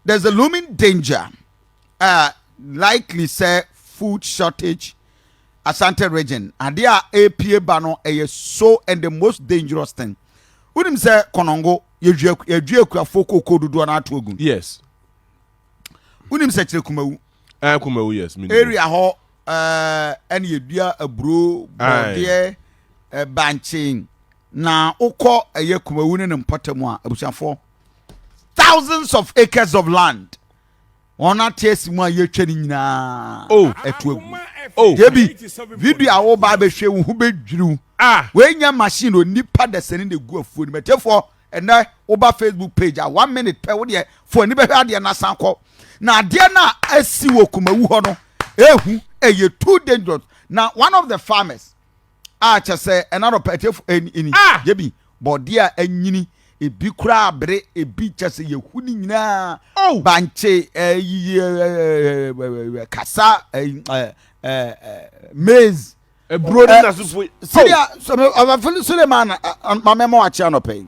There's a looming danger a likely sɛ food shortage Asante region, adeɛ a ɛrepie ba no ɛyɛ so and the most dangerous thing. Wonim sɛ kɔnɔngo yɛdwi akuafoɔ kookoo dodoɔ no ato agu. Yes. Wonim sɛ kyerɛ kumawu. Eh, kumawu yes. Area hɔ ɛna eh, yɛdua aburo, bɔdeɛ, eh, bankye na wokɔ ɛyɛ kumawu ne ne mpɔtam a abusuafoɔ. thousands of acres of land wɔn ate asi mu a yɛtwa no nyinaa o oh, ɛto agu o oh, yɛbi video a woba abɛhwɛ wo ho bɛdwiriw ah. wɔanya machine o nipa dasani na ɛgu afuo no mɛtɛfoɔ ɛnɛ woba facebook page a one minute pɛ wodeɛ fo ani bɛhwɛ adeɛ no asan kɔ na adeɛ no a asi wɔ kumawu hɔ no ɛhu ɛyɛ too dangerous na one of the farmers a kyɛ sɛ ɛna rɔ pɛ atiefo ɛn ini yɛ bi bɔ de a ɛnyini ebi kura abere ebi kyɛ sɛ yɛ hu ne nyinaa oh! bankye ɛɛ kasa ɛɛ ɛɛ maize eburo ne na so fo sɛdeɛ sɛdeɛ ɔbɛfili suleman mamɛmɔ akyɛ anɔpɛ yi.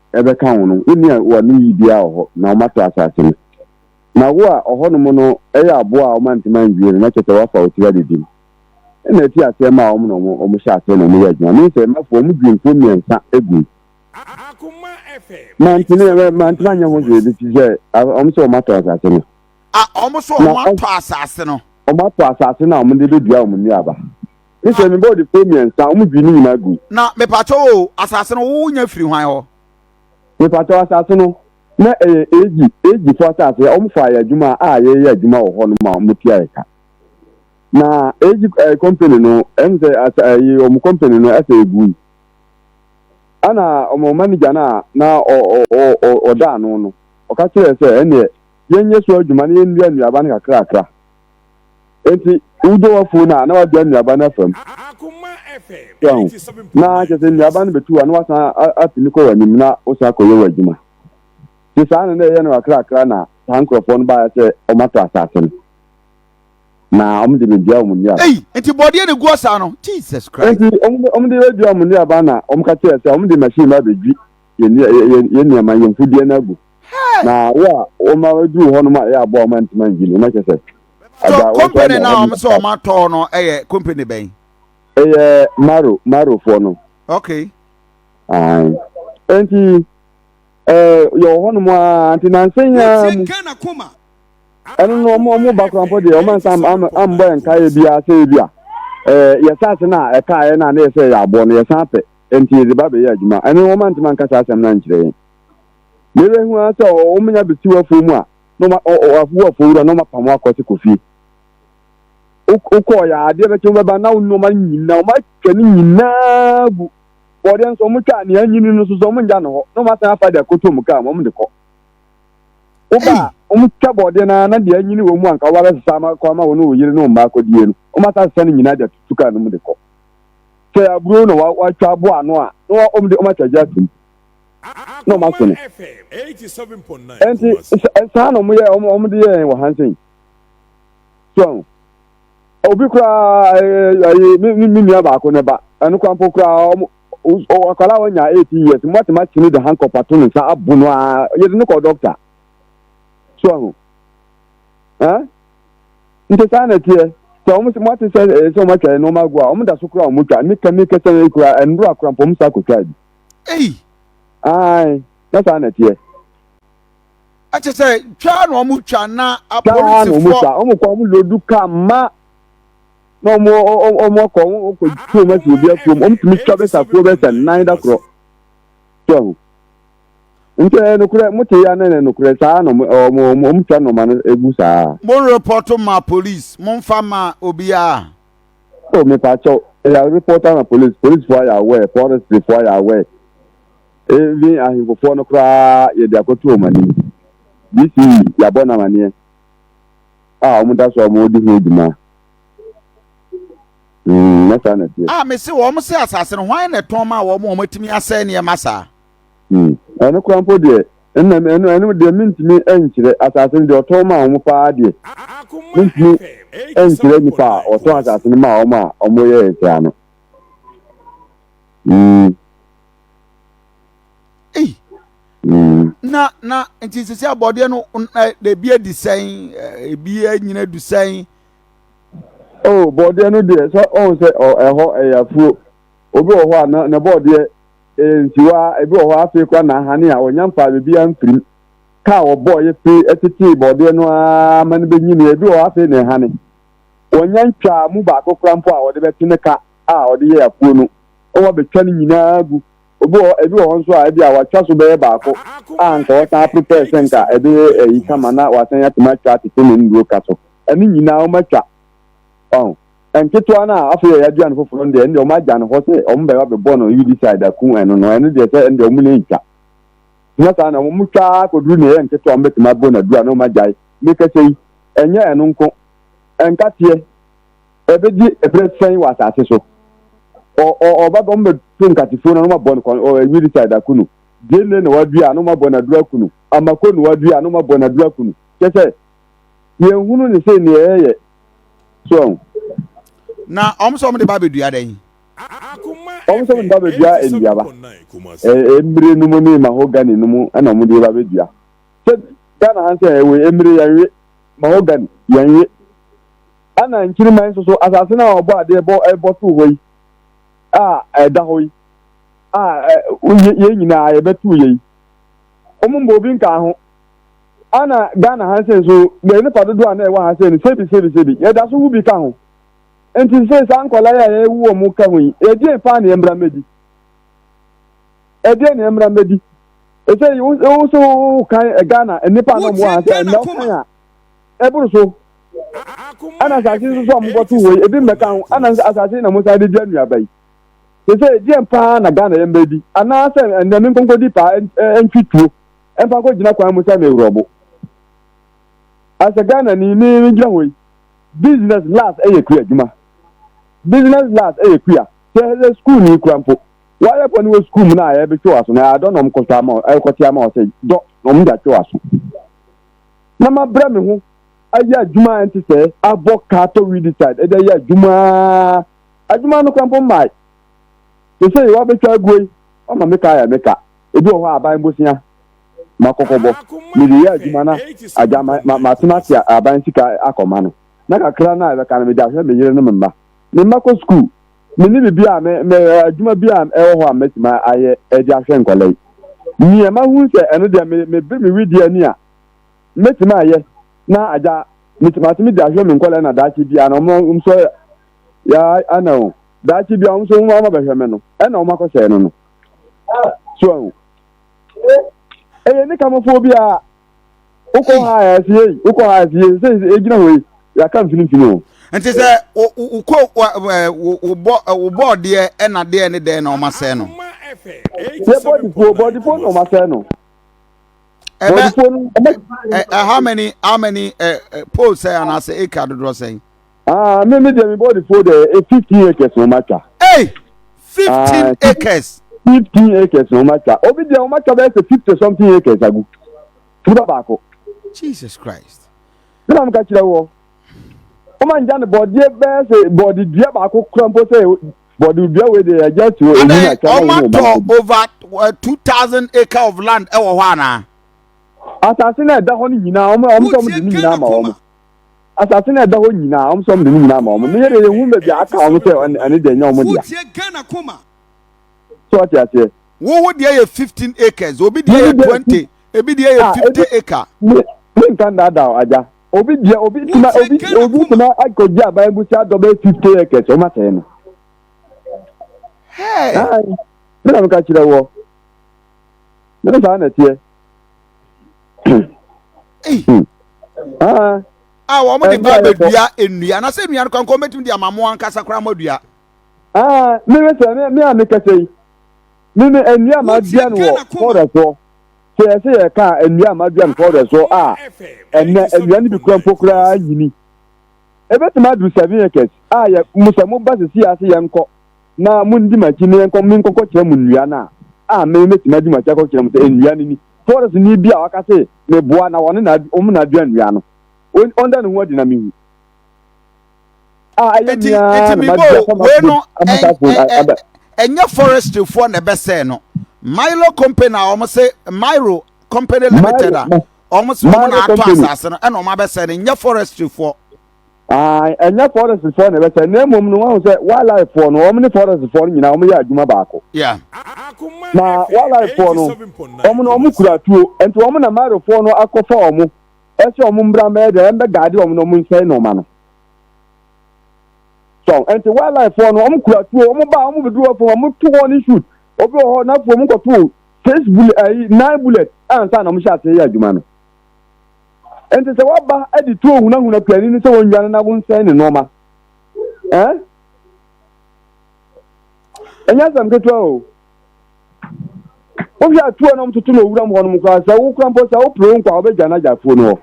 ɛbɛka wo no, wonni a wɔne wo yi biara wɔ hɔ, na wɔato asase no. Na wo a ɔhɔnom no yɛ aboa a wɔma ntoma nnwie no, na kyerɛ sɛ wɔafa wo tiri adidi mu. Ɛnna ɛfii aseɛ maa wɔn na wɔhyɛɛ aseɛ na wɔyɛɛ adwuma. Me nso, mɛfo wɔn dwumfoɔ mmiɛnsa agu mu. Mantene, mantene anyɛ ho hwee, ɛfiri sɛ wɔn sɛ wɔatɔ asase no. A Wɔn sɛ wɔatɔ asase no. Wɔatɔ asase no a wɔde bɛdua wɔn nnuaba. Kristo ne bɔɔdefoɔ mmiɛnsa wɔn dwi ne nyinaa gu. Na mepatɔ o asase no wo nya firi hwan hɔ. Mepatɔ asase no na ɛyɛ egi egi fo asase wɔn fa yɛ adwuma a yɛyɛ adwuma wɔ hɔ no ma wɔn tua yɛ ka. Na egi ɛɛ kɔmpani no ɛmu sɛ asa ɛyi wɔn kɔmpani no ɛsɛ egu yi. Ɛna wɔn manigya no a na ɔ ɔ ɔ ɔda ano no ɔka kyerɛ sɛ ɛneɛ yɛnyɛ so adwuma na yɛnnua nnuaba no kakrakra. Enti wogya w'afuw no a, na wagyaa nnuaba no afa mu. So ahu? Na kyerɛ sɛ nnuaba no betu a, na wasan atumi kɔ w'anim na wosan akɔyɛ w'adwuma. Te saa na na ɛyɛ no kakrakra na saa nkurɔfoɔ no baeɛ sɛ wɔatɔ asase no, na wɔde bɛdua wɔn nnuaba. Ei, enti bɔdeɛ na ɛgu ɔsaa no? Jesus Christ! Enti wɔde bɛdua wɔn nnuaba na wɔka kyerɛɛ sɛ wɔde machine ba bɛdwi yɛ nneɛma yɛn mfudeɛ no agu na wo a wɔma aduru hɔ nom a ɛyɛ aboa wɔma ntoma ngyi no na kyɛ sɛ so company na wɔn sɛ wɔn atɔ no ɛyɛ company bɛn ɛyɛ maro marofoɔ no okay ayi nti ɛɛ yɛwɔ hɔ nom a nti nansan yɛn mu ɛno no wɔn wɔn ba korampɔ deɛ wɔn ansa ambɔ yɛn nkaeɛ bi ase bi a ɛɛ yɛ saase na ɛkaeɛ na ne yɛ sɛ yɛ aboɔ no yɛ san pɛ. Enti yɛdze ba bɛyɛ adwuma. Ɛno wɔn anntse mannka saa asɛm no annkyerɛ yɛn. Me werɛ hu ara sɛ wɔn menya besiw afuo mu a, na wɔn a, ɔ, ɔ, wo afuo wura na wɔn apam wo akɔ se kɔ fie. Wo, wo kɔɔ yɛ a, adeɛ bɛkye wo bɛba na wo nnoɔma no nyina, wɔn atwa ne nyinaa gu. Bɔɔdeɛ nso wɔn twa a, nea anyini no nso so wɔn ngya no hɔ na wɔn asan afa de akɔtɔ mu kaa mu wɔn de kɔ. Wo ba a, wɔn twa bɔɔdeɛ no ara na deɛ anyini wɔ mu a nka wɔabɛsesa ama, kɔ ama wo ne wo yere ne wo mma akɔdie no, wɔn asan asesa ne nyinaa de atutu kaa no mu de kɔ. sɛ aburow na wɔatwa abo ano a, na wɔde wɔn akyagye ato mu, na wɔaso no. Enti, saa na wɔyɛ, wɔde yɛɛ yɛn wɔ Hansen. So ahu. Obi koraa, ɛyɛ me me nua baako ne ba, ɛno koraa mpo koraa, akwadaa a wɔnya 18 years, mmatema kyene de hankɔp ato ne nsa abo no ara, yɛde no kɔ dɔkta. So ahu. Eh? Nti saa na ɛteɛ. Sɛ wɔn sɛ moate sɛ ɛyɛ sɛ wɔn atwa yɛn nnoɔma agu a, wɔn da so koraa wɔn twa. Meka meka sɛ ɛyɛ koraa ɛnnoro akora mpo wɔn san kɔ twaa bi. Ei. Aane, na saa na ɛteɛ. Ɛkyɛ sɛ twaa na wɔn twa na apolisifoɔ. Twaa na wɔn twa, wɔn kɔ wɔn lodu kaa ma na wɔn wɔn akɔ wɔn kɔ tuo wɔn asi obi afuom, wɔn tumi twa bɛsa kuo bɛsa nan da korɔ. Twa ho. Nti ɛyɛ nokorɛ mote ya na ɛyɛ nokorɛ saa na wɔn twa nɔma no egu saa. Mo repɔto ma police mo nfa ma obiara. Oh mepakyɛw ya repɔto ama police police foɔ ayɛ aware forestry foɔ ayɛ aware even ahemfofoɔ no koraa yɛde akɔto wɔn anim DC yabɔ no amaneɛ a wɔn da so a wɔn di ho dwuma mm na saa na ɛteɛ. Ah mese wɔn se asase no hwan na ɛtɔn ma wɔn a wɔatumi asɛe nneɛma saa. Hmm. Ɛno koraa mpo deɛ, ɛnna me, ɛno, ɛno deɛ mentumi nkyerɛ. Asase no deɛ ɔtɔn maa wɔn paa deɛ, mentumi nkyerɛ nipa a ɔtɔn asase no maa wɔn a wɔyɛɛ saa no. Hmm. Ei. Hmm. Na, na, nti sisi abɔdeɛ no, ebi adi sɛn, ebi anyina adu sɛn. Oh, bɔdeɛ no deɛ, sɛ ɔn sɛ ɛhɔ ɛyɛ afuo. Obi wɔ hɔ a, na, na bɔdeɛ Ee, nsiwa a ebi wɔ hɔ afei koraa na ahane a wɔnya mfaa biribiara mfirim ka a wɔbɔɔ yɛ fi tetee borɔdeɛ no ara ma no benyinii. Ebi wɔ hɔ afei na ɛhane. Wɔnya ntwaa mu baako koraa mpo a wɔde bɛte ne ka a wɔde yɛɛ afuo no, na wɔabetwa ne nyinaa agu. Obi wɔ hɔ, ebi wɔ hɔ nso a ebia wɔatwa so bɛyɛ baako a anka wɔsan aporo pɛɛ sɛ anka ɛbɛyɛ ayi kama na wɔasan atumi atwa atete ne nnuro ka so. Ɛno nyinaa wɔatwa. Wahu? Nketewa no a afei a yɛadua no foforɔ no deɛ, ɛndeɛ wɔagya no hɔ sɛ wɔbɛba bɛbɔ no herbicide aku ɛno no, ɛno deɛ sɛ ɛndeɛ wɔn na ɛntwa. Nyɛ saa na wɔn twa ara kɔduru na ɛyɛ nketewa wɔbɛtumi abɔ no aduru a na wɔagyae. Mekasa yi, ɛnyɛ ɛno nko. Nkateɛ, ɛbɛdi ɛberɛ sɛn wɔ asase so? Ɔba bɛ wɔbɛto nkatefuo no na wɔabɔ no herbicide aku no. Gyeene na wɔadua a na wɔabɔ no aduru aku no. Amako na wɔadua a na wɔabɔ no aduru aku no. Kyɛ sɛ yɛnhunu ne sɛ nea ɛyɛ so ɔn. Na wɔn sɛ wɔn de ba abɛdua dɛn? Wɔn sɛ wɔn de ba abɛdua nnuaba. Mmire no mu ne mahogany no mu na wɔn de ba abɛdua. Sɛ Ghana ha sɛ ɛwɔ mmire yɛnwe, mahogany yɛnwe. Ɛna nkyirimma nso so asase no a wɔbɔ adeɛ bɔ ɛbɔ too hɔ yi a ɛda hɔ yi a yɛn nyinaa yɛbɛtoo yɛ yi. Wɔn mbɔ obi nkaa ho. Ana Ghana ha sɛ nso bɛyɛ nipa dodoɔ a na ɛwɔ ha sɛ no sebi sebi sebi yɛda so wu bi ka ho nti sɛ saa nkɔla yi a yɛwu wɔn mu ka ho yi ɛdeɛn paa na yɛmmra mmɛdi ɛdeɛn na yɛmmra mmɛdi ɛsɛ wo so wo kan Ghana nipa na ɔmo ha sɛ ɛnna wo kan a ɛboro so ɛna asase nso so a mokɔto wɔ yi ebi mmɛka ho ɛna asase na mosan de di anuaba yi sɛ sɛ ɛdeɛn paa na Ghana yɛmmɛdi anaasɛ ɛnna me nkonkɔdi paa ɛntwi tuo ɛmfa nkɔ gyina kwan mu sɛ me wrɔbo as a Ghana ni me me gyina hɔ yi business last ɛyɛ kua adwuma business last ɛyɛ kua sɛ ɛyɛ school ni kura mpo wɔayɛ pɔ ne wɔ school mu na ayɛ bɛtwe waso na adɔ na ɔmo kɔtɔ ama ɛkɔte ama wɔ sɛ dɔ na ɔmo gya twe waso na ma brɛ me ho ayɛ adwuma ɛnte sɛ abɔ kaa tɔ widi side ɛde ayɛ adwuma adwuma no kura mpo mmae sɛ sɛ yɛ wɔabɛtwa aguo yi ɔma me ka ayɛ me ka Ebi wɔ hɔ a, aban bosea ma kɔkɔbɔ. Mede yɛ adwuma na agya ma, ma, matena ase a aban sika akɔma no. Na kakra no a ɛbɛka no, mede ahwɛ me yere ne me mma. Me mma kɔ sukuu. Menni biribi a me, me, adwuma bi a ɛwɔ hɔ a mɛtumi ayɛ de ahwɛ nkwadaa yi. Nea mahu sɛ ɛno deɛ me, mebere me wedeɛ ani a mɛtumi ayɛ na agya, metumi, matumi de ahwɛ me nkwadaa yi na daakye biara no, wɔn, wɔn nso, ya, ana o, daakye biara wɔn nso wɔn ama bɛhwɛ me no, ɛna wɔn akɔsɛe no no. so ahu ɛyɛ ne kamofoɔ bi a wokɔ ha a ɛse yei wokɔ ha a ɛse yei sɛ ɛgyina hɔ yi yɛaka mfinimfini o nti sɛ wokɔ wobɔ wobɔ deɛ ɛna deɛ ne dɛn na ɔma sɛɛ no yɛ bɔdifoɔ bɔdifoɔ na ɔma sɛɛ no bɔdifoɔ no how many how many uh, uh, poles sɛ anaasɛ acre dodoɔ sɛn Ah, me me deɛ me body fo deɛ eh, fifteen acres na ɔma twa. Hey, fifteen ah, acres. Fifteen acres na ɔma twa. Obi deɛ ɔma twa bɛyɛ sɛ fifty something acres agu. Nipa baako. Jesus Christ. Ɛna mo ka kyerɛ wɔ. Ɔma ngya ne bɔdeɛ bɛyɛ sɛ bɔde dua baako kura mpo sɛ bɔde dua wei deɛ yɛgya ti wɔ eyi na kyɛn na wɔn ɔma over eh, two thousand acre of land ɛwɔ hɔ anaa. Asase na ɛda hɔ no nyinaa ɔmo ɔmo sɛ ɔmo de ne nyinaa ma wɔn. asase no a ɛda hɔ nyinaa, wɔn nso wɔde ne nyinaa ma wɔn. Mmea deɛ yɛhu baabi a aka wɔn sɛ ɛne ɛne deɛ nyɛ wɔn dea. So ɔte aseɛ. Wo wo deɛ yɛ fifteen acres, obi deɛ yɛ twenty, ebi deɛ yɛ ah, fifty acre. Ne ne nka ndaadaa agya. Obi deɛ obi tuma obi obi tuma akɔgye aban egusi adɔ bɛyɛ fifty acres wɔn asɛe no. Hɛɛ. Ɛna mi ka kyerɛ wɔ. Ne ne saa na ɛteɛ. Ah. a wɔn de ba abɛdua nnua na sɛ nnua no kankan wɔbɛtumi de ama mo ankasa koraa mo adua ah, meme sɛ me a mekɛsɛ yi meme nnua a madua no wɔ fɔdɛ soɔ sɛ yɛ sɛ yɛka nnua a madua no fɔdɛ soɔ a ɛnɛ nnua no bi kura mpo koraa nyini ɛbɛtumi aduru seven acres a yɛ mo sɛ moba sɛ si ase yɛnkɔ na mundi m'akyi na yɛnkɔ menkɔkɔkyerɛ mo nnua no a, a me metumi adi mo akyi akɔkyerɛ mo sɛ nnua no ni. Farisini bi a ɔka se, Meboa na wɔne na wɔn na adua nnua no. On, ɔnda ne ho adi na minhu. A ɛyɛ Enti, me ara enti na mebɔ madua fa wei no, m'afo- ɛn- m'asafo ɛ- ɛ- ada. ɛnyɛ forestryfoɔ na ɛbɛsɛe no. Milo company a wɔn se Milo company limited a Milo- wɔn se wɔn Milo na ato company. asase no ɛna wɔn abɛsɛe no, nyɛ forestryfoɔ. Ae, ɛnyɛ forest foɔ na ɛbɛsɛe, na mmom no wahu sɛ wildlife foɔ no, wɔn ne forest foɔ no nyinaa wɔn yɛ adwuma baako. Yeah. Na wildlife foɔ no, wɔn no wɔn kura tuo, nti wɔn na Maro foɔ no akɔfa wɔn, ɛsɛ wɔn mbra mbɛyɛ dɛ, ɛmbɛ gaade wɔn na wɔn nsɛe nnoɔma no. So, nti wildlife foɔ no wɔn kura tuo, wɔn ba wɔn bɛduru wɔn fam, wɔn to wɔn ne shoot, obi wɔ hɔ n'afɔ wɔn kɔto six bullet, ayi nine bullet, ansa na wɔn hyɛ aseɛ yɛ adwuma no. Enti sɛ woaba de tuo hunahuna piani no sɛ wɔnnwane na wonsɛe ne nnoɔma ɛ? Ɛnyɛ asɛm ketewa o. Wohwɛ a tuo na wɔtoto no owuram hɔnom koraa sɛ wokora mpo sɛ wopere wo nkwa a wobɛgya no agya afuo no hɔ.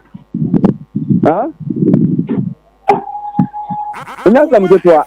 Ɛnyɛ asɛm ketewa.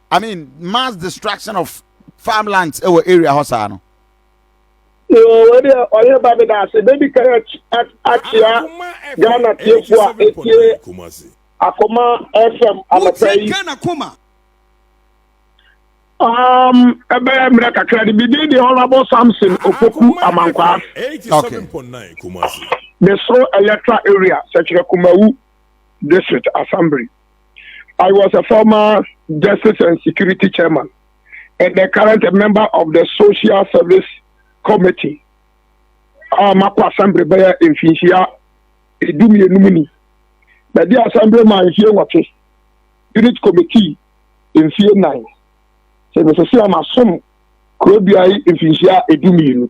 I mean mass destruction of farmlands ɛwɔ area hɔ saa no. yoo wei deɛ ɔyɛ ba mi daase bɛdi kan akyia ghana tiefo a etie akoma fm anɔpɛ yi. ghana koma. Um, ɛbɛyɛ mmerɛ kakra de bidin de honorable samson opoku amankwaa de soro electoral area sɛkyerɛ kumawu district assembly I was a former Justice and Security Chairman and the current member of the Social Service Committee. A makɔ assembly bɛyɛ mfinhyia edu mmienu mu ni. Bɛdi assembly ma mfie nwɔtwe, unit committee mfie nnan. Sɛ mesese a masom kurodua yi mfinhyia edu mmienu.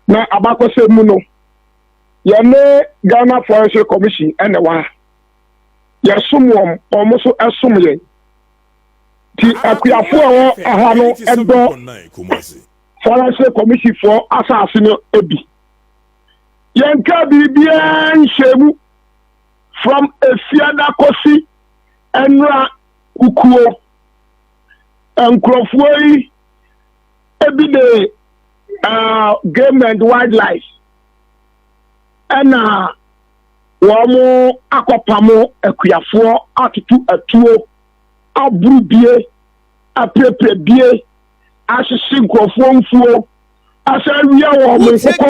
Na abakɔsɛm mu no, yɛne Ghana Forestry Commission ɛna ɛwɔ ha. yɛsom wɔn, wɔn nso som yɛn. Ti akuafo a ɛwɔ ɛha no dɔ Faranse kɔmisifoɔ asase no bi. Yɛnka biribiara nhyɛ mu from efiada kɔsi nnora kukuo. Nkurɔfoɔ yi ebi de uh, game and wildlife ɛna. wɔn akɔpamo akuafoɔ atoto atuo aboro bie apirapira bie ahyehye nkurɔfoɔ mfuo asan awia wɔn nkokɔ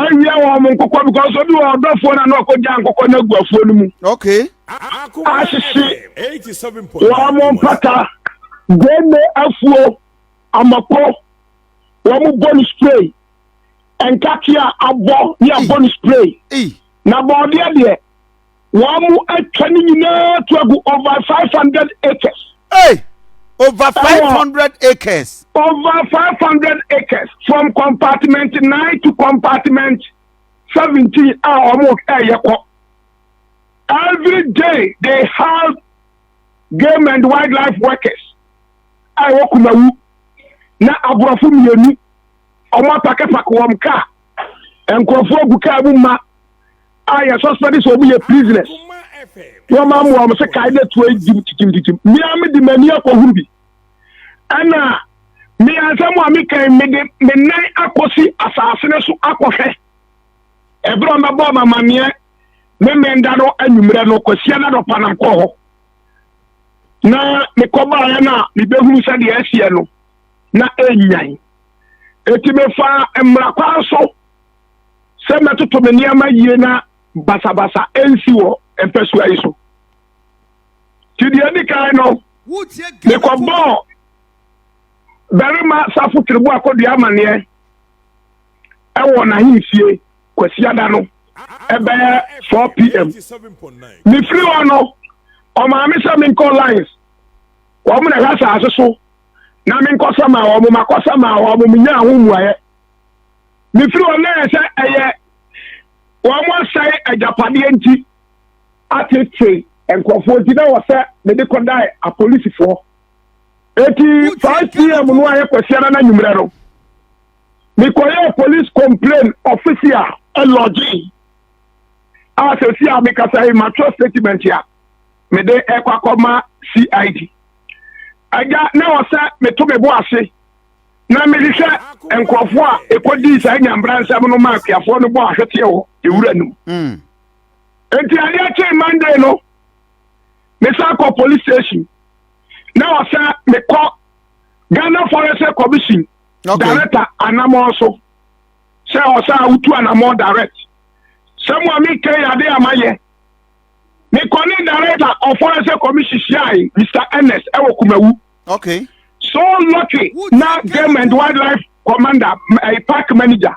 awia wɔn nkokɔ because obi wɔ ɔdɔfoɔ na na ɔkɔgya nkokɔ no agu afuo no mu okay ahyehye wɔn mpata gane afuo amako wɔn bɔ no spray nkateɛ a abɔ ne abɔ no spray na bɔɔdeɛ deɛ wɔn mu atwa ne nyinaa to agu over five hundred acres. Hey! over five hundred acres. over five hundred acres from compartment nine to compartment seventeen a wɔn ɛyɛ kɔ. every day they have game and wildlife workers a wɔkumawu na aborɔfo mmienu. Ɔmo apake pak wɔm kaa. Nkorɔfoɔ gu kaa mu mma a yɛ sɔspɛde sɛ ɔmo yɛ prisoners. Wɔn a wɔn se kae na tuo yi gyim kyikyimkyikyim. Mmea me de m'ani akɔhuru bi. Ɛna me ansɛm a me kan me de me nan akɔsi asase no so akɔhwɛ. Ɛberɛ ɔmo bɛbɔɔ ma maneɛ me mmɛnda no anwummerɛ no kwasia na dɔpa nam kɔɔ hɔ. Na mekɔbaeɛ no a mebɛhunu sɛdeɛ ɛseɛ no. na ɛnyan. Enti mefaa mmara kwan so sɛ mɛtoto me nneɛma yie na basabasa ɛnsi wɔ mpasua yi so. Nti deɛ ɛdi kan no, mekɔbɔɔ barima safo tiribo akɔdua amanneɛ ɛwɔ n'ahemfie kwasiada no ɛbɛyɛ 4 pm. Mefiri hɔ no, ɔmaa me sɛ menkɔ lines wɔn na ɛhwɛ asase so na me nkɔsa maa wɔn makɔsa maa wɔn menyaa ho mmuaeɛ mefiri wɔn na yɛ sɛ ɛyɛ wɔn asɛe agyapadeɛ nti atete nkurɔfoɔ nti na wɔ sɛ mede kɔdae apolisifoɔ eti 5 pm no ayɛ kwasiara no anwummerɛ no mekɔyɛɛ police complain ɔfisi a ɛlɔgye a sɛsi a mekasa yi matwerɛ statement a mede ɛkɔ akɔma cid Agya, na ɛwɔ sɛ meto me bo ase na mehwehwɛ nkurɔfoɔ a ɛkɔdii saa nyambra nsɛm no ma akuafoɔ no bɔ ahweteɛ wɔ ewura no mu. Mm. Enti adeɛ kyee Monday no, mesan kɔ police station. Na ɛwɔ sɛ mekɔ Ghana Forest Commission okay. director anamɔ so sɛ ɔsɛ a wotu anamɔ direct. Sɛ mo a mekɛ yɛ adeɛ a mayɛ. mekɔ ne director of forensic commission hyiae mr ernest ɛwɔ eh, kumawu okay so lucky na game and wildlife commander ɛyɛ eh, park manager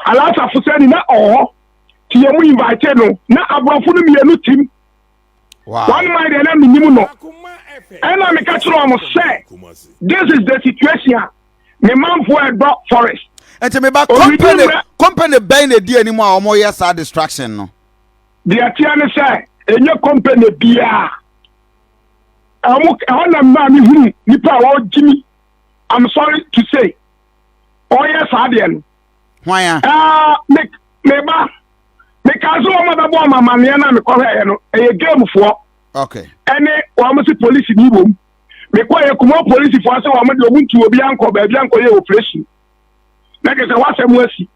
alasa fusani na ɔhɔ ti yɛ mu invite no na aborɔfo no mmienu tim one mind ɛna menim no ɛna meka kyerɛ ɔmo sɛ this is the situation me manfo a ɛdɔ forest. nti me ba company company bɛn na edi anim a wɔn yɛ saa distraction no. deɛ teɛ no sɛ enye company biara ɛwɔ ɛhɔ na mmaa mi huru nipa a wɔgye mi i'm sorry to say ɔyɛ saa deɛ no. hwan ya. ɛɛ me me ba me kaa sɛ wɔn a bɛbɔ ɔmamaneɛ na mekɔhwɛ yɛ no ɛyɛ game foɔ. okay. ɛne wɔn si polisi ni wɔm. mekɔɛ kuma polisifo ase wɔn deɛ wɔn ntu obi ankɔ baabi ankɔyɛ operation na kyerɛ sɛ wasɛm asi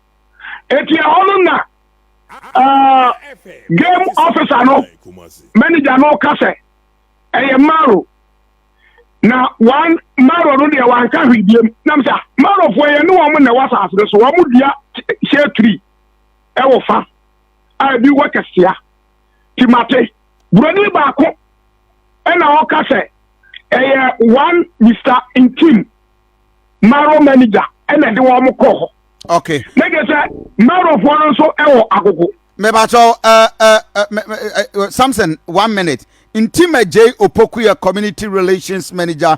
eti ɛhɔ no na uh, game officer no manager no ka sɛ ɛyɛ maro na wan maro no deɛ wanka hwee biem nam sɛ marofoɔ yɛ ne wɔn na ɛwɔ asase no so wɔn dua hyɛ tiri ɛwɔ fa a ebi wɔ kɛseɛ. Timate. Buroni baako na ɔka sɛ ɛyɛ one Mister Ntim Maro manager na ɛde wɔn kɔɔ hɔ. Okay. Na kyerɛ sɛ Marofoɔ no nso wɔ agogo. Mɛbatɔ uh, uh, uh, uh, Samson one minute. Ntima J Opokuya community relations manager.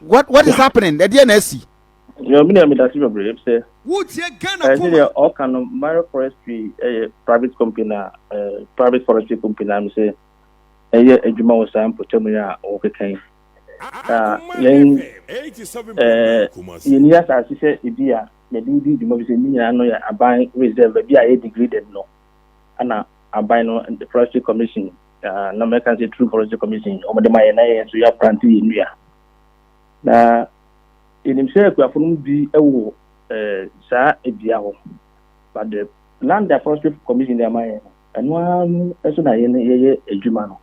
what what is happening ɛdeɛ na asi. yɛ ɔmi ni ɛmi dasi bebree ebi sɛ. wotie ghana kɔma. ɛsɛ deɛ ɔka no mara forestry ɛyɛ private company na ɛɛ private forestry company na mi sɛ ɛyɛ adwuma wɔ saa mpɔtam yi a ɔkeka yi na yɛn ɛɛ yɛn ni asaase sɛ ebi a yɛde di dwuma bi sɛ ne nyinaa no yɛ aban reserve ebi a yɛ degraded no ɛna aban no forestry commission. Na na mɛka sɛ True Forestry Commission wɔn de ma yɛn na yɛn nso yɛaplante yɛn nnua. Na yɛnim sɛ akuafo no mu bi wɔ eh, saa dua hɔ. But the land that Forestry Commission de ama yɛn no, ɛno ara no nso na yɛn yɛyɛ adwuma no.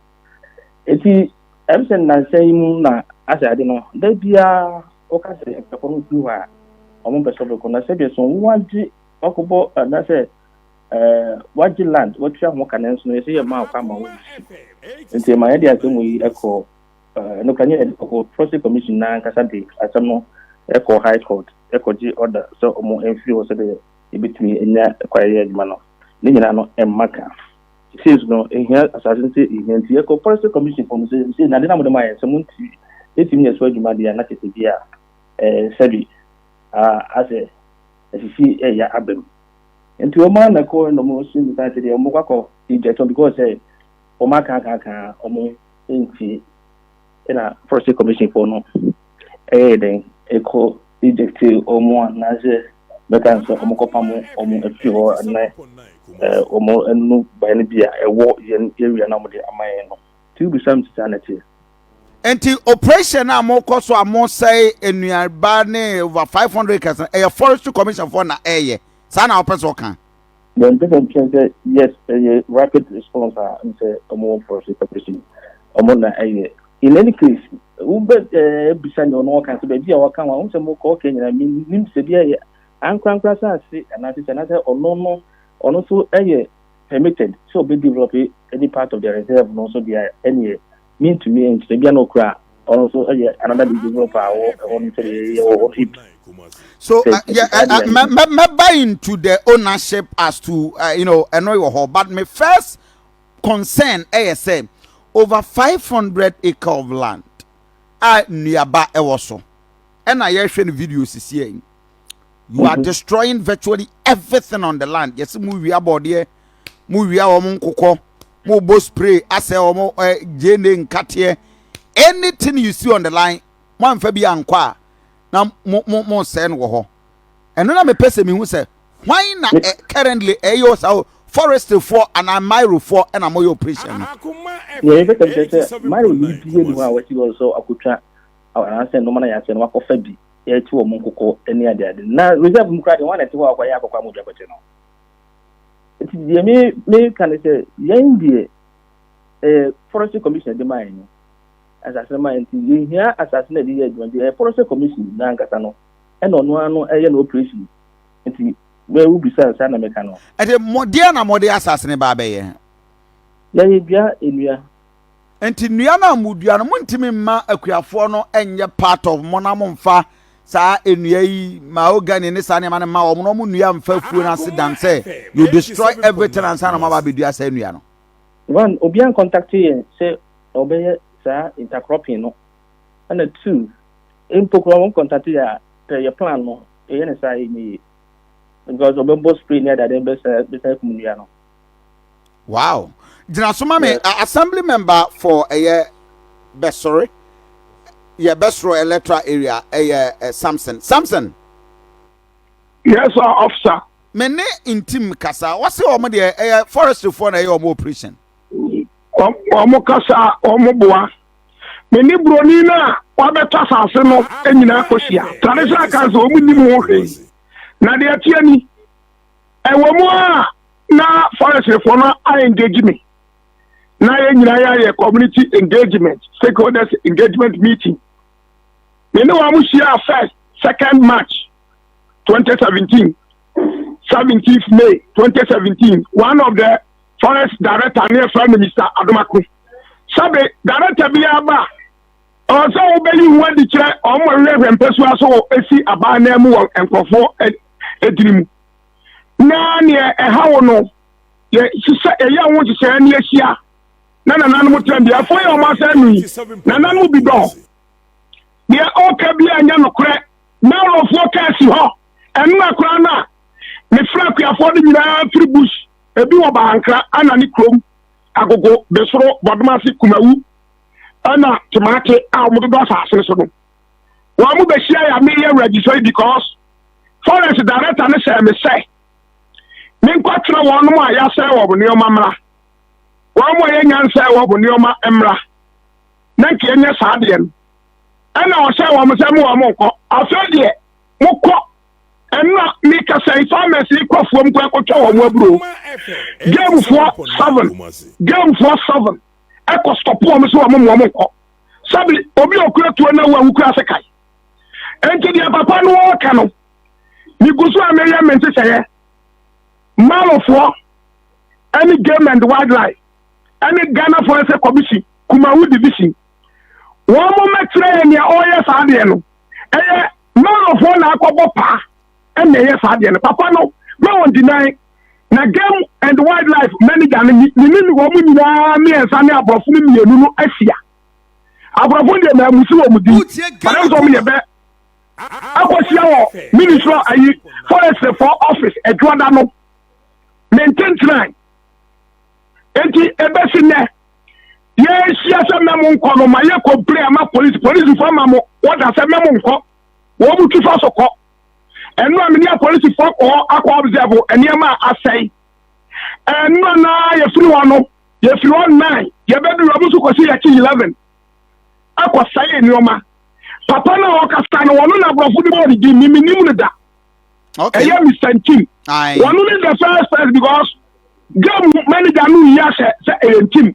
Eti ɛm sɛ nnansa yi mu na asɛ ade no, da biara wɔka sɛ akuafo no firi hɔ a, wɔn bɛsɔ bɛkɔ. Na sɛdeɛ so wɔagye wakɔbɔ anaasɛ Eh, wagye land, watua ho ka nanso no yɛsɛ yɛ maa kwan ma wɔyɛ su. Nti ma yɛde asɛm wɔ yi ɛkɔ, eh, ɛno ka nyɛ ɛkɔ Proxy Commission na ankasa de asɛm no ɛkɔ High Court ɛkɔ gye order sɛ ɔmo ɛmfiri hɔ sɛdeɛ yɛbɛtumi ɛnya ɛkwa yɛyɛ adwuma no. Ne nyinaa no ɛmma ka. Sesei nso no ɛhia asase no sɛ ɛhia nti ɛkɔ Proxy Commission fɔ no sɛ sesei na ade no a mode ma yɛn sɛ monti ɛtumi nyɛ so adwuma deɛ a na kɛsɛ bi a, eh, sɛbi, ah, asɛ. asisi ɛya aba mu nti wɔn ara na kɔ na wɔn so nipa sɛ deɛ wɔn kɔ akɔ egypt wɔn because sɛ wɔn aka aka aka wɔn nti ɛna forestry commission foɔ no ɛyɛ dɛn ɛkɔ egypt wɔn anaasɛ bɛka nsɛ wɔn kɔ pam wɔn afiri hɔ ɛnɛ wɔn ɛnu ban bi a ɛwɔ yɛn area na wɔn de ama yɛn no. Nti wobisa me sɛ saa na ɛteɛ? Nti operation a mokɔ so a mosɛe nnuaba ne over five hundred acres no ɛyɛ forestry commission foɔ na ɛɛyɛ saa na wopɛ sɛ ɔka? Deɛ mepɛ sɛ mekyerɛ sɛ yes ɛyɛ rapid response a ɛne sɛ ɔmo wɔ forestry commission ɔmo na ɛyɛ in any case wobɛ ɛɛ bisa nea ɔno ɔka sɛ baabi a ɔka wɔn sɛ mokɔ ɔka nyinaa menim sɛ bi ɛyɛ ankorankora saase anaasɛ sɛ anaasɛ ɔno no ɔno nso ɛyɛ permitted sɛ ɔbɛ develop any part of the reserve no nso deɛ ɛneɛ mentumi nkyerɛ bia na ɔkura ɔno nso yɛ another de develop a wɔ ɛhɔ no sɛ deɛ yɛ wɔ hɔ hip so uh, yeah, uh, uh, me, me, me buy into the ownership as to uh, you know ɛno wɔ hɔ but my first concern ɛyɛ sɛ over 500 acre of land a nnuaba ɛwɔ so ɛna yɛhwɛ no video sisi yɛn you are destroying virtually everything on the land yɛsi mu wia bɔdeɛ mu wia wɔn nkokɔ mu bɔ spray asɛ wɔn ɛ eh, gyeene nkateɛ anything you see on the line mo anfa bi ankɔ a na mo mo mo sɛ no wɔ hɔ ɛno na mepɛ sɛ mehu sɛ hwan na ɛ currently ɛyɛ ɔsa o forest foɔ anaa mairo foɔ ɛna mo yɛ operation no. yɛyɛ bɛtɛ kyerɛ sɛ mairo ni bi yɛ ni hɔ a wɔsi wɔn sɛ akotwa anaasɛ nnoɔma no ayɛ asɛe no wakɔfa bi de atu wɔn nkokɔ ne adeade. Na reserve mu koraa deɛ wɔn na ɛte hɔ a wɔkɔyɛ akɔkɔ ama odwa kɔte no. Nti deɛ me meka ne sɛ yɛn deɛ ɛyɛ forestry commission de maa yɛn no asase no maa nti yɛhia asase no de yɛ adwuma nti ɛyɛ forestry commission no ankasa no ɛna ɔno ara no ɛyɛ no operation nti bɛɛ wobisa saa na meka no. Ɛde mɔdeɛ na mɔde asase no ba abɛyɛ. Yɛyɛ dua nnua. Nti nnua no a modua no montumi mma akuafoɔ no nyɛ part of mo na momfa saa nnua yi mahogany ne saa nneɛma no mma wɔn na wɔn nnua mfa afuo no ase dan sɛ you destroy everything ansa na moaba abɛdua saa nnua no. One, obiara nkɔntakte yɛn sɛ ɔbɛyɛ saa intercropping no. Ɛna two, mpo koraa wɔn nkɔntakte yɛn a, pɛ yɛ plan no, yɛyɛ no saa a ɛnyɛ yie. Because wɔbɛbɔ spray ne adeade no bɛsan akum nnua no. wow gyina so ma me assembly member for ɛyɛ bɛsɔre yɛ bɛsoro electoral area ɛyɛ samson samson. yes sir officer. me ne ntim kasa wɔsi wɔn deɛ ɛyɛ forestryfoɔ na ɛyɛ wɔn operation. wɔn kasa wɔn boa me ne buroni no a wabɛtɔ asase no nyinaa kɔhyia traditional council wɔn nim ho hwee na deɛ ɛteɛ ni. Ɛwɔ mu a na Phariseefoɔ no a-engage me, na yɛn nyinaa yɛayɛ community engagement, stakeholders engagement meeting. Me ne wɔn hyiaa first, second March 2017, 17th May 2017. One of the forest director ne ɛfrɛ no Mr. Adomako. Sɛbe director biara ba a, Ɔwɔ sɛ wobɛyi ho adi kyerɛ wɔn ma wɛhwɛ mpɛsoa so wɔ esi aba anan mu wɔ nkurɔfoɔ adini mu. Na neɛ ɛha wo no, yɛ hyehyɛ yɛyɛ ho nhyehyɛɛ ne ahyia na nananom tena bi. Afei a wɔn asan nu yi, nananom bi dɔ deɛ ɔka bi a ɛnyɛ nokorɛ. Narofoɔ ka asi hɔ, ɛnna koraa na mefrɛ akuafoɔ no nyinaa firi bush, ebi wɔ Bahankra, Anane kurom, Agogo, Besoro, Bɔdomase, Kumawu. ɛna temate a wɔn dodo asase no so no wɔn mo bɛhyia yɛ ameyɛ awuragyisɔ yi because forest director no sɛ me sɛ menkɔtena wɔn mo a yɛasɛ wɔ wɔn nneɛma mmra wɔn mo a yɛnya nsɛ wɔ wɔn nneɛma mmra na nka yɛnyɛ saa deɛ no ɛna ɔhyɛ wɔn sɛ mo wɔn mo nkɔ afei deɛ mokɔ ɛna mekasa yi farmers yi kɔ fam kɔ ɛkɔtwa wɔn aburo gamefoɔ seven gamefoɔ seven. ɛkɔ stɔpo wɔn so wɔn mu wɔn nkɔ sɛbi obi a okura tuo na wɔn kura ase kae nti deɛ papa no ɔka no migu so a meyɛ me nsesɛeɛ malofoɔ ɛne game and wildlife ɛne ghana forest commission kumawu division wɔn mo mɛkyerɛ yɛ nea ɔreyɛ saa deɛ no ɛyɛ malofoɔ na akɔbɔ paa ɛna ɛyɛ saa deɛ no papa no ma wɔn dinan na game and wildlife manager no mene ne wɔn nyinaa mmiɛnsa ne aborɔfo no mmienu no ahyia aborɔfo deɛ na amusi wɔn din papa nso wɔn yɛ bɛ akɔhyia wɔ ministry ayi forestry for office adwoada no ne ntentenan eti ebesi nnɛ yɛahyia sɛ mɛmo nkɔ no ma yɛkɔ bere ama polisi polisifoɔ ama mo wɔda sɛ mɛmo nkɔ wɔn mu twi fa so kɔ. Ɛno a me ne apolisifo akɔ hɔ akɔ observe nneɛma a asɛe. Ɛno na yɛfiri hɔ no, yɛfiri hɔ nnan, yɛbɛduru hɔ nso kɔsi yɛkye 11 akɔsɛe nneɛma. Papa no a ɔkasa no, wɔn na aborɔfo de bɔɔ ne din, me menim no da. Okay. Ɛyɛ Mr. Ntim. Wɔn ne the first person because game manager no yi ahyɛ sɛ ɛyɛ Ntim.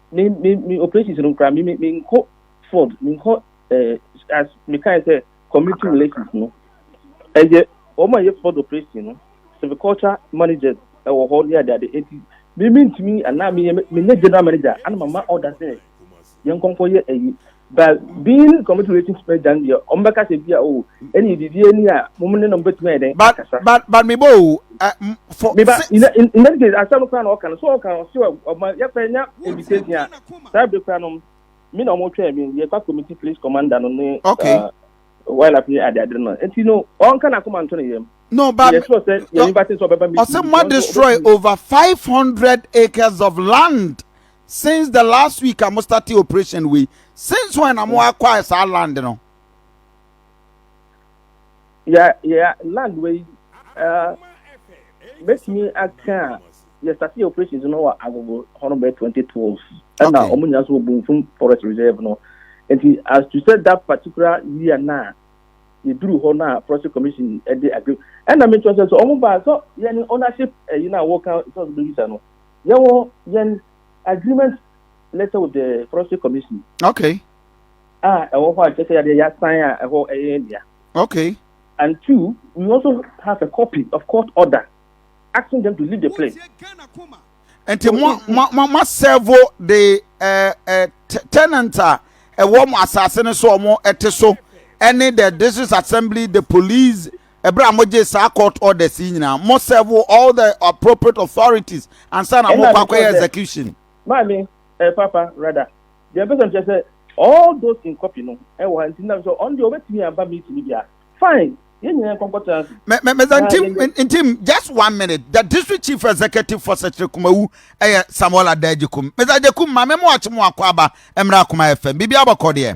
me me me operations no koraa me me me nkɔ fraud me nkɔ ɛɛ eh, as me kan sɛ community relations no ɛyɛ wɔn a yɛ fraud operation no silviculture managers ɛwɔ hɔ ne adeade eti me me ntumi anaa me yɛ me nyɛ general manager ana ma ma order sɛ yɛn nkɔnkɔ yɛ ɛyi. but being committed relations pɛ dan deɛ ɔmo bɛka sɛ bi a o ɛne bibi ani a mo ne no bɛtumi ayɛ dɛn but akasa but but me bɔ o ɛ m fɔ meba se in that in in that case asɛm koraa na ɔka no so ɔka ɔse ɔ- ɔma yɛpɛ nya invitation a saa bere koraa no me na ɔmo twɛn me yɛkɔ committee police commander no ne okay uh, wildlife ne ade ade no nti no ɔnka n'akoma nto ne yam no but yɛ me sure sɛ yɛ no invite sɛ ɔbɛba meeting ɔsɛ bi mo nso destroy ɔbɛtumi over five hundred acres of land Since the last week a mo start operation wei since when na mo acquire saa land no. Yɛ yɛ land wei ɛɛ mɛtumi aka a yɛ start yɛ operations no wɔ agogo hɔ no bɛ twenty twelve ɛna wɔn nyinaa so wɔ Bonfum forest reserve no nti as to say that particular year na yɛduru hɔ na forest commission ɛde agree ɛna mi kyerɛ sɛ sɛ wɔn ba sɛ yɛn ownership ɛyi na wɔka sɛ ɔbɛyi sa no. Yɛwɔ yɛn agreement letter with the forestry commission. Okay. Ah, ɛwɔ hɔ a kyerɛ sɛ yɛde yɛasan a ɛhɔ ɛyɛ yɛn dea. Okay. And two, we also have a copy of court order asking them to leave the place. nti mo mo mo mo servo de ɛɛ ɛɛ tenant a ɛwɔ mo asase no so ɔmo ɛte so ɛne the district assembly the police ɛberɛ a mogyee saa court orders yi nyinaa mo serve all the appropriate authorities ansa na mokɔ akɔyɛ execution. maame ɛ eh, papa rather deɛ mpɛ sɛ mkyɛ sɛ all those in copy no ɛwɔ ha nti nam sɛ ɔno deɛ ɔbɛtumi aba meeting bi a fine yɛn nyinaa nkɔnkɔtena ase. mɛ mɛ mɛ ntim ntim just one minute the district chief executive for sɛkyerɛ kumawu ɛyɛ samuel adagye kum mɛ adagye kum maame mu akyi mu akɔ aba ɛmira kuma ɛfɛm bibi abɔkɔ deɛ.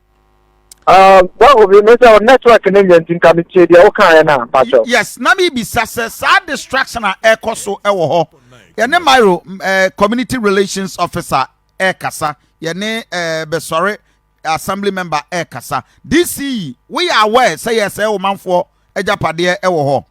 Um, well, we may say network and then think I'm here. The okay, and I'm pacho. Yes, na mi bisa se sa distraction a eko so ewo ho. Ye ne Myro eh, community relations officer e kasa. Ye ne eh, besore assembly member e kasa. DC, we are aware say yes e o manfo ejapade e wo ho.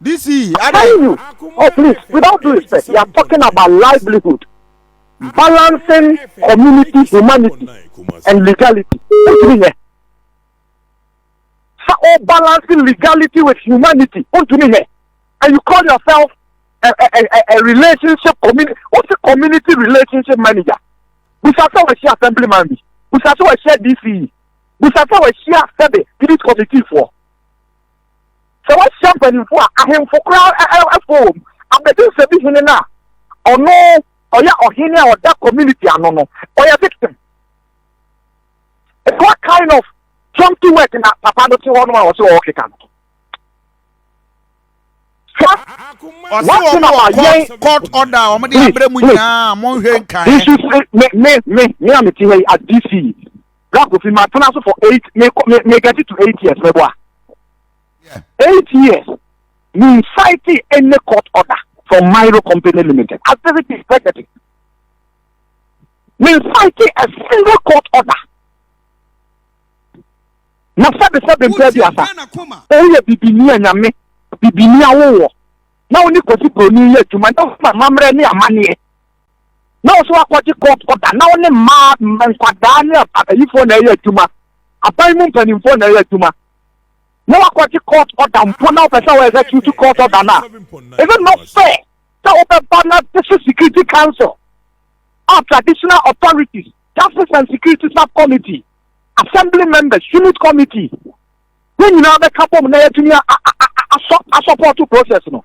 This yìí adé. Telling you oh please without due respect you are talking about livelihood balancing community humanity and legality wontumi nyɛ sɛ o balancing legality with humanity wontumi nyɛ and you call yourself a, a, a, a relationship community what's a community relationship manager busa sɛ wɔahyia assemblyman bi busa sɛ wɔahyia dce busa sɛ wɔahyia sɛbe street committee foɔ. Sɛ woahyia mpanyimfo a ahemfo koraa fo wom abɛdensɛm bi hene no a, ɔno ɔyɛ ɔhene a ɔda community ano no, ɔyɛ victim. It's what kind of jumpy work na papa no te hɔ no a ɔsɛ ɔkeka no. Ɔsɛ wɔn wɔ court court order a wɔn de abrɛ mu nyinaa wɔn nhwɛ nkan. Me me me me a me te hɔ yi as DC. Bra Kofi, matena so for eight, me me me get to eight years, me boa. Eight years, me fighting any court order from Milo Company Limited. I said it is negative. Me fighting a single court order. Na sabi sabi mpɛ bi asa. Oyɛ bibini a nyame, bibini a wowɔ. Na wone kofi broni yɛ adwuma, na woma mammerɛ ne amanneɛ. na ɔsɛ wakɔgye court order na ɔne mmaa nkwadaa ne abayifoɔ na ɛyɛ adwuma aban mu mpanimfoɔ na ɛyɛ adwuma na wakɔgye court order mpo na ɔpɛ sɛ ɔyɛ sɛ tutu court order no a ɛsɛ not fair sɛ wobɛba na this is security council a traditional authorities justice and security subcommittee assembly members unit committee ne nyinaa bɛka bom na yɛatumi asɔpɔto process no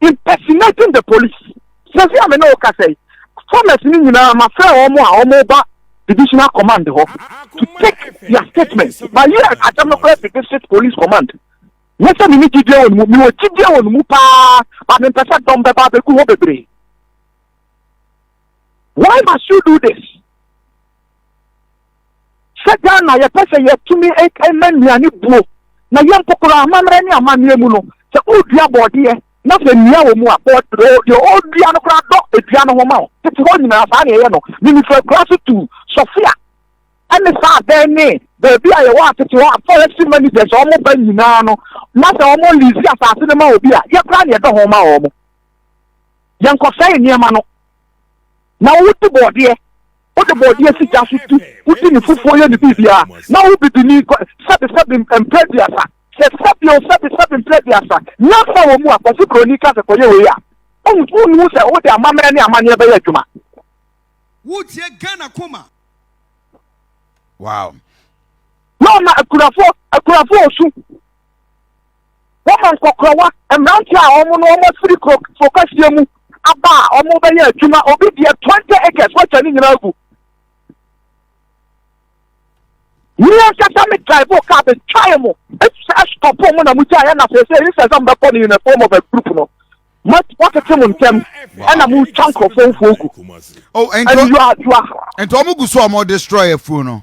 impersonating the police sɛsi a me ne wo kasa yi farmers no nyinaa mafrɛ wɔn a wɔba divisional command hɔ to take their statement ma yɛ asɛm no kora fi district police command ne sɛ mene gyidie wɔ no mu mewɔ gyidie wɔ no mu paa ba mempɛ sɛ dɔm bɛba bɛgu hɔ bebree why must you do this Sɛ Ghana yɛpɛ sɛ yɛtumi ma nnuane buo na yɛn mpo koraa amammerɛ ne amanneɛ mu no, sɛ wodua bɔɔdeɛ na sɛ nnua wɔ mu a, bɔɔdeɛ deɛ ɔredua no koraa dɔ dua no ho ma wo. Tete hɔ nyinaa saa na yɛyɛ no. Mimifra akuraa so tu Sofia ne saa abɛn ne baabi a yɛwɔ atete hɔ a forest managers a wɔn ba nyinaa no na sɛ wɔn lease asase no ma obi a yɛkoraa na yɛdɔ ho ma wɔn. Yɛnkɔsɛe nneɛma no. Na wodi bɔɔdeɛ, wode bɔɔdeɛ si gya so di, wodi ne fufuo yɛ ne biribiara, na wo bibini kɔ sɛbesɛbe mprɛ aduasa. Sɛ sɛbe o sɛbesɛbe mprɛ aduasa, nyansa wɔ mu a, kɔse buroni ka sɛ kɔyɛ wei a, wonhu sɛ wode amammerɛ ne amanneɛ bɛyɛ adwuma. Wotie Ghana koma. Wow. Na ɔma akunafoɔ, akunafoɔ osu. wɔma nkɔkorɔwa, mmeranteɛ a wɔn no wɔn afiri kuro kuro kɛseɛ mu aba a wɔn bɛyɛ adwuma obi deɛ twenty acres wɔatwa ne nyinaa gu yìí ankasa mi drive o car mi try mu efisɛ ɛsopɔ pɔn mu na mo gya yɛ na fɛ sɛ eyi sɛ ɛsɛ mo bɛ bɔ ne yunifɔm form of a group no wɔtete mo ntɛm ɛna mo twa nkurɔfoɔ mfuo gu ɛne yua yua nti wɔn gu so a wɔn destroy afuo no.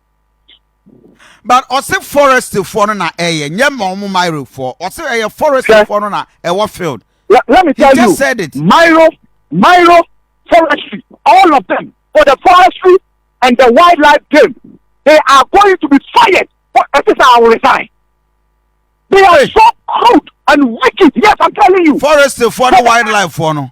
but ɔse forest foɔ no na ɛyɛ nyɛ ma ɔmo mairo foɔ ɔse ɛyɛ forest foɔ no na ɛwɔ field let, let me tell you said it mairo mairo forestry all of them for the forestry and the wildlife game they are going to be fired for ɛte sɛ aworesan they are so crude and wicked yes i'm telling you forest foɔ no wildlife foɔ no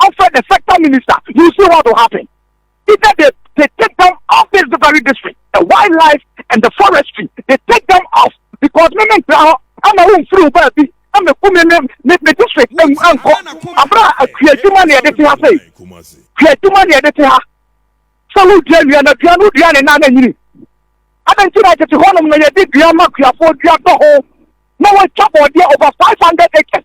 ɔfrɛ the sector minister you see what will happen either they they take them off this very district the wildlife and the forestry they take them off because me me ntra hɔ ɛna wo nfiri wo baa bi ɛna ku me me me me district ɛmu ɛnkɔ abira akua adwuma na yɛde te ha sɛyi kua adwuma na yɛde te ha sɛ wo dua nua na dua no dua ne nan na nyini adan ti na tete hɔnom na yɛde dua ma kuafoɔ dua dɔ ho na wɔatwa bɔɔdeɛ over five hundred acres.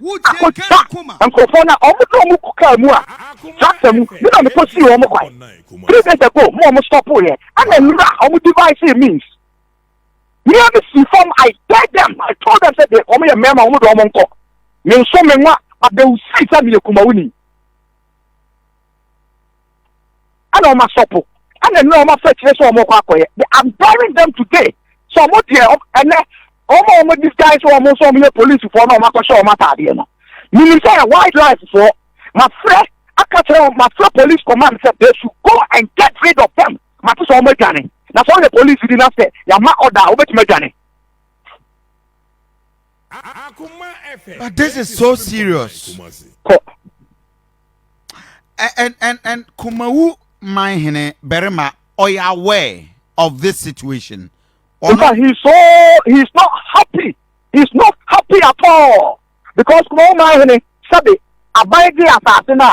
akɔgya nkurɔfoɔ no a wɔn ne wɔn kɔ kaa mu a tractor mu ne na mekɔ sii wɔn kwan three days ago mo wɔn stɔpo yɛ ɛna nnura wɔn device means mmea mi si fam i tell them i told them sɛ deɛ wɔn yɛ mmarima wɔn de wɔn nkɔ me nso me nwa but they will see sɛ me yɛ kumawuni. ɛna wɔn asɔpo ɛna nnura wɔn afɛ kyerɛ sɛ wɔn kɔ akɔyɛ they are burying them today so wɔn deɛ ɛnɛ wɔn a wɔn disguise wɔn nso wɔn yɛ polisifoɔ na wɔn akɔhyɛ wɔn ataadeɛ no menim sɛ yɛ white life foɔ mafrɛ aka kyerɛ wɔn mafrɛ police command sɛ they should go and get rid of them mate sɛ wɔn adwane na sɛ wɔn yɛ police di na sɛ yɛama ɔda a wɔbɛtumi adwane. But this is so serious. and and and kumawu man hene barima ɔyɛ aware of this situation. Ɔno... But he's so he's not happy he's not happy at all because kumawu man hene sɛbi aban gye asase no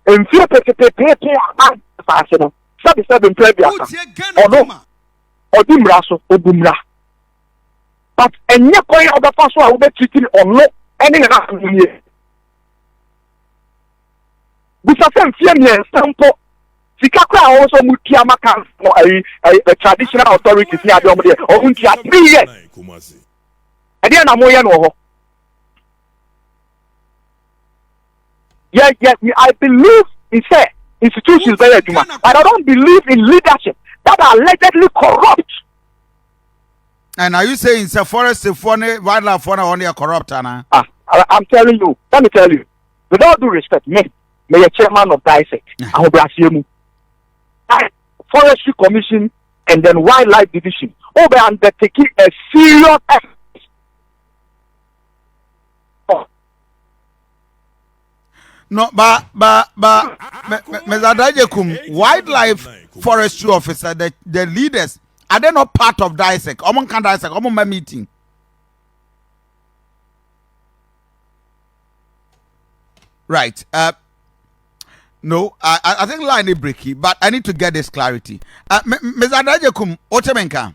a mfie pepepepepe aban asase no sɛbi sɛbi mpere aduasa ɔno ɔdi mmira so obu mmira but ɛnyɛ kwan a ɔbɛfa so a wobɛtitiri ɔno ɛne nana ahonie. bisa sɛ mfeɛ mmiɛnsa mpo sika koraa a wɔwɔ sɛ wɔn tua ma council ɛyi ɛyi traditional authorities ne adeɛ wɔn deɛ wɔn ntua three years ɛdeɛ na wɔyɛ no wɔ hɔ yɛ yɛ I believe in sɛ institutions bɛyɛ adwuma but I don't believe in leadership that are allegedly corrupt. And are you saying sɛ forest foɔ ne wildlife foɔ na wɔn yɛ corrupt ana? Ah, I, I'm telling you, let me tell you, with all due respect, me, me yɛ chairman of DISEC, ahobrasiɛ mu. Forestry Commission and then Wildlife Division, oh, they undertaking a serious effort no ba ba ba mezadaje kum wildlife forestry officer the the leaders are they not part of DISEC ɔmo nka DISEC ɔmo mma meeting. Right. Uh, no, I, I think line is breaky, but I need to get this clarity. Uh, Ms. Adajekum, Otemenka.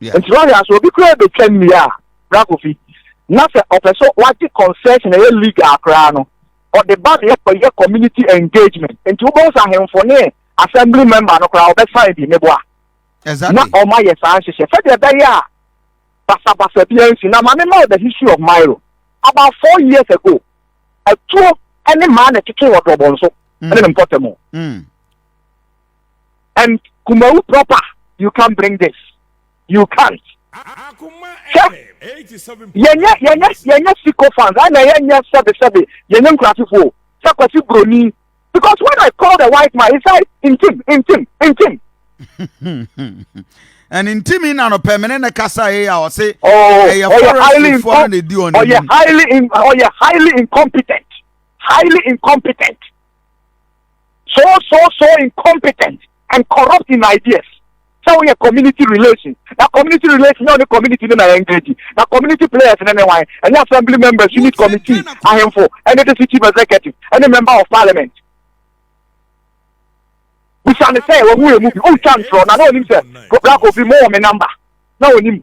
Nti wahwɛ a sɛ obi koraa betwa nnua a, Bra Kofi, na sɛ ɔpɛ sɛ wagye concession a ɛyɛ legal koraa no, ɔde ba na yɛkɔyɛ community engagement. Nti wobɛhu sɛ ahemfo ne assembly member no koraa wɔbɛsan bi, meboa? Na wɔayɛ saa nhyehyɛ sɛdeɛ ɛbɛyɛ a basabasa biara nsi. Na ma mema wo the history of Mairo. About four years ago, atuo ne mmaa na ɛtwetwee wɔ Dorobɔnso ne ne mpɔtam. and kumawu proper you can bring this you can't sɛ yɛnyɛ yɛnyɛ yɛnyɛ siko fans ɛna yɛnyɛ sɛbi sɛbi yɛnyɛ nkurasifoɔ sɛ kwasi broni because when I call the white man he said ntim ntim ntim. and ntimi na no pɛ mene ne kasa yɛ a ɔse ɛyɛ forestfoɔ no na ɛdi ɔne ɔyɛ highly ɔyɛ highly incompetent highly incompetent so so so incompetent and corrupt in ideas sɛ woyɛ community relations na community relations nyɛ ɔne community no na engage na community players ne ne wan ɛnyɛ assembly members unit committee ahemfo ɛne the city executive ɛne member of parliament bisa ne sɛ wɔhu emu bi wontwa ntorɔ na na onim sɛ black obi mo wɔ me number na onim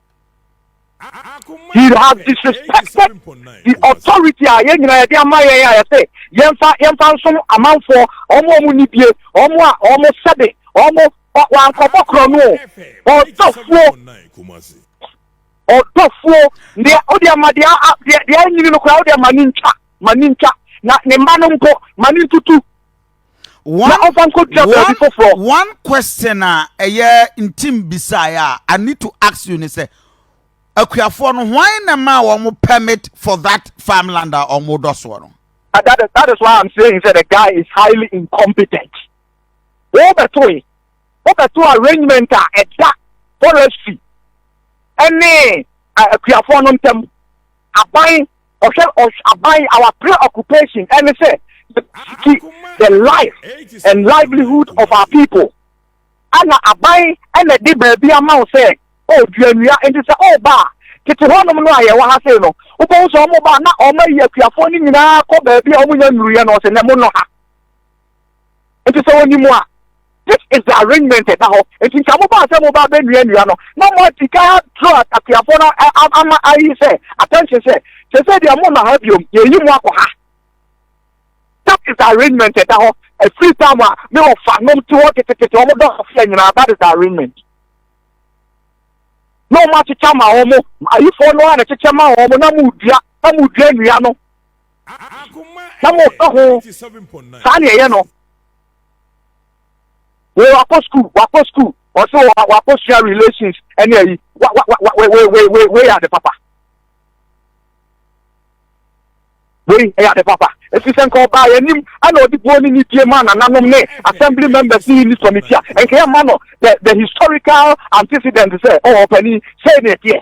He has disrespected the authority a yɛn nyinaa yɛde ama yɛn a yɛsɛ yɛmfa yɛmfa nsom amanfoɔ wɔn a wɔn nibie wɔn a wɔn sɛbe wɔn wankɔbɔ korɔ no ɔdɔfoɔ ɔdɔfoɔ deɛ ɔde ama deɛ deɛ deɛ anyini no koraa ɔde ama ne ntwa ma ne ntwa na ne mma no mpo ma ne ntutu one question a ɛyɛ ntim bisaeɛ a i need to ask you ne sɛ akuafoɔ no hwan na ma wɔn permit for that farmland a wɔn dɔ soɔ no. Uh, that, is, that is why i'm saying that the guy is highly incompetent. wɔbɛto yi wɔbɛto arrangement a ɛda forestry ɛne akuafoɔ no ntam aban ɔhwɛ ɔhwɛ aban our preoccupation ɛne sɛ yɛsiki the life and livelihood of our people ɛna aban ɛna ɛde baabi ama wo sɛ ɔdua nnua nti sɛ ɔba a tete hɔnom no a yɛwɔ ha sei no wobɛhu sɛ ɔmo ba na ɔmo ayi akuafoɔ no nyinaa kɔ baabi a ɔmo nya nnuruyɛ no ɔsɛ na mo nɔ ha Nti sɛ wɔnim a, this is the arrangement a ɛda hɔ. Nti nka mo baa sɛ mo ba abɛnua nnua no, na mo adi kan adro atakuafoɔ no ama ayi sɛ attention sɛ, sɛ sɛ deɛ mo na ha biom, yɛyi mo akɔ ha. That is the arrangement a ɛda hɔ. A free time a me wɔ fa nom te hɔ tetetete wɔn dɔ aseɛ nyinaa, that is the arrangement. Na wɔn akyekyɛ ama wɔn, ayifoɔ no a na kyekyɛ ma wɔn na mo dua, na mo dua nnua no. na moka ho saa ne ɛyɛ no wei wakɔ school wakɔ school ɔsɛ wakɔ sua relations ɛne ayi wa wa wa wei wei wei wei wei yɛ ade papa wei ɛyɛ ade papa efi sɛ nka ɔbaa yɛ anim ɛna ɔde buo ne ne die maa nananom ne assembly members ne unit committee a nka yɛ ma no the the historical antecedent sɛ ɔwɔ ɔpɛni sɛ ɛna ɛteɛ.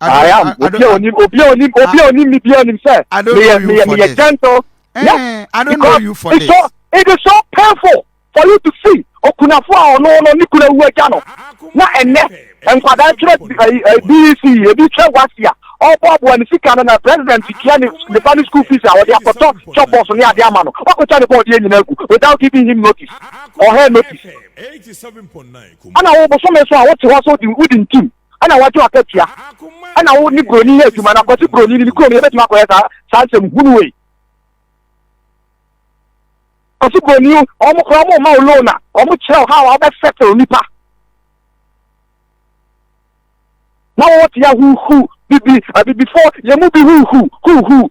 I am. Obi a onim, obi a onim, obi a onim me bi onim sɛ. I don't know you for this. gentle. Eh, yes, I don't know you for this. So, it is so painful for you to see okunafo a ɔno ɔno ne kuna wu agya no. Na ɛnɛ nkwadaa kyerɛ BEC ebi kyerɛ wasi a ɔboaboa ne sika no na president tua ne ne ba ne school fees a ɔde akɔtɔ chop box ne ade ama no wakɔtwa ne bɔɔdeɛ nyinaa agu without giving him notice or her notice. Ana wo bosome so a wote hɔ so wodi ntim. ɛna wɔgye wo akatua ɛna wo ne buroni yɛ adwuma na kwasi buroni ne ne kurom yɛbɛtumi akɔyɛ saa saa nsɛm hunu wei kwasi buroni wɔn kora wɔn ma wo loan a wɔn kyerɛ wo ha a wɔbɛ settle nipa na wɔwɔ tia huhu bibi abibifo yɛn mu bi huhu huhu.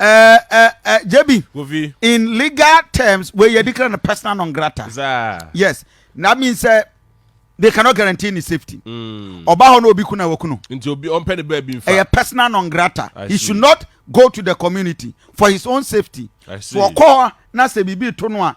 ɛɛ jb kofi in legal terms wei yɛ declare no personal non grata yes na mean sɛ they cannot guarantee ne safety mm. ɔba hɔ na obi kuna wakunu nti obi ɔmpɛ ne baabi nfa ɛyɛ personal non grata he should not go to the community for his own safety so ɔkɔ hɔ na sɛ biribi to no a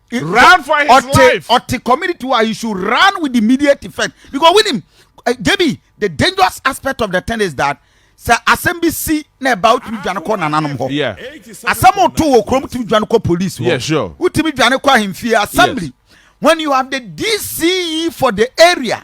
run for his ɔte, life. ɔte community wa he should run with immediate effect because wonim eh, debi the dangerous aspect of the thing is that sɛ asɛm bi si na ɛba wotumi dwane kɔ nananom hɔ Yeah. asɛm oto wɔ kurom wotumi dwane kɔ police hɔ Yeah, sure. wotumi dwane kɔ ahemfie assembly when you have the dce for the area